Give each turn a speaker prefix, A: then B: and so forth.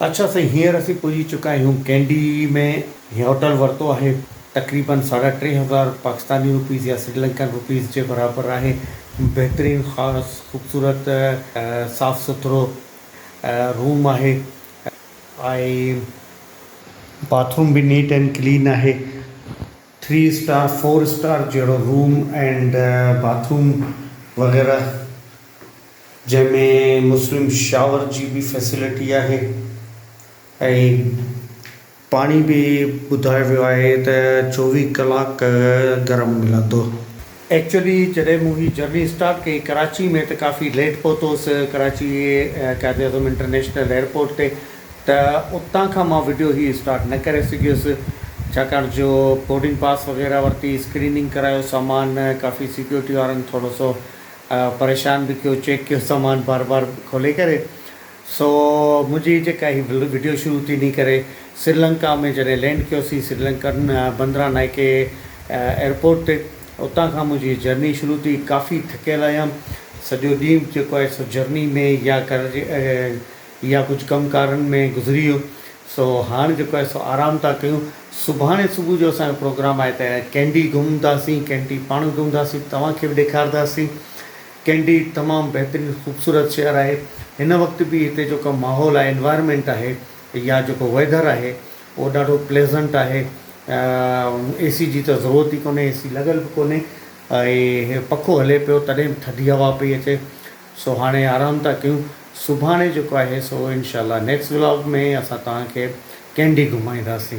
A: اڇا سائين هينئر اسين پهچي چڪا آهيون ڪينڊي ۾ هي هوٽل ورتو آهي تقريبن ساڍا ٽي هزار پاڪستاني روپيز يا سري لنڪن روپيز جي برابر آهي بهترين خاص خوبصورت صاف سٿرو روم آهي ۽ باٿ روم به نيٽ اينڊ ڪلين آهي. ٿري اسٽار فور اسٽار جهڙو روم اينڊ باٿ روم وغيره جنهن ۾ مسلم شاور جي به فيسلٽي آهي ۽ پاڻي به ٻڌايو ويو آهي ته چوويهه ڪلاڪ گرم ملندو. ايڪچولي جڏهن مون هي جرني اسٽارٽ ڪئي ڪراچي ۾ ته ڪافي ليٽ پهتو هوس ڪراچي قائد اعظم انٽرنيشنل ايئرپورٽ تي ته اتان کان مان وڊيو هي اسٽارٽ نه ڪري سگهيس ڇاڪاڻ جو بورڊنگ پاس وغيره ورتي اسڪريننگ ڪرايو سامان ڪافي سيڪيورٽي وارن ٿورو سو پريشان به ڪيو چيڪ ڪيو سامان بار بار کولي ڪري سو منهنجي جيڪا هي وڊيو شروع ٿي ني ڪري سريلنڪا ۾ جڏهن لينڊ ڪيوسين سريلنڪن بندرا نائڪي ايئرپورٽ تي اتان کان منهنجي جرني شروع ٿي ڪافي ٿڪيل هيم سڄو ڏينهن جيڪو آهي سو جرني ۾ يا گهر جي يا ڪجهه ڪم ڪارن ۾ گذري ويو سو هاڻ جيڪو آهي سو آرام ٿا ڪيون سڀاڻي صبح جو اسان جو پروگرام آهي ته ڪينڊي گهمنداسين ڪينڊي پاڻ گهمنداسين توهان کي به ڏيکارداسين. ڪينڊي تمام بهترين خوبصورت شهر آهي هن وقت به هتي جيڪو ماحول آهي انوائرمينٽ آهي يا جيڪو ويدر آهي اهو ڏاڍو پليزنٽ آهي اي سي جي ته ضرورت ئي ڪونهي اي سي لڳل به ڪونهي ۽ پکو هلي پيو تڏهن به ٿڌي هوا پئي اچي سو هاڻي آرام ٿا ڪيون سڀاڻي جيڪو آهي سو انشاء الله نيڪسٽ ولاگ ۾ اسان توهان کي ڪينڊي گهمائينداسين.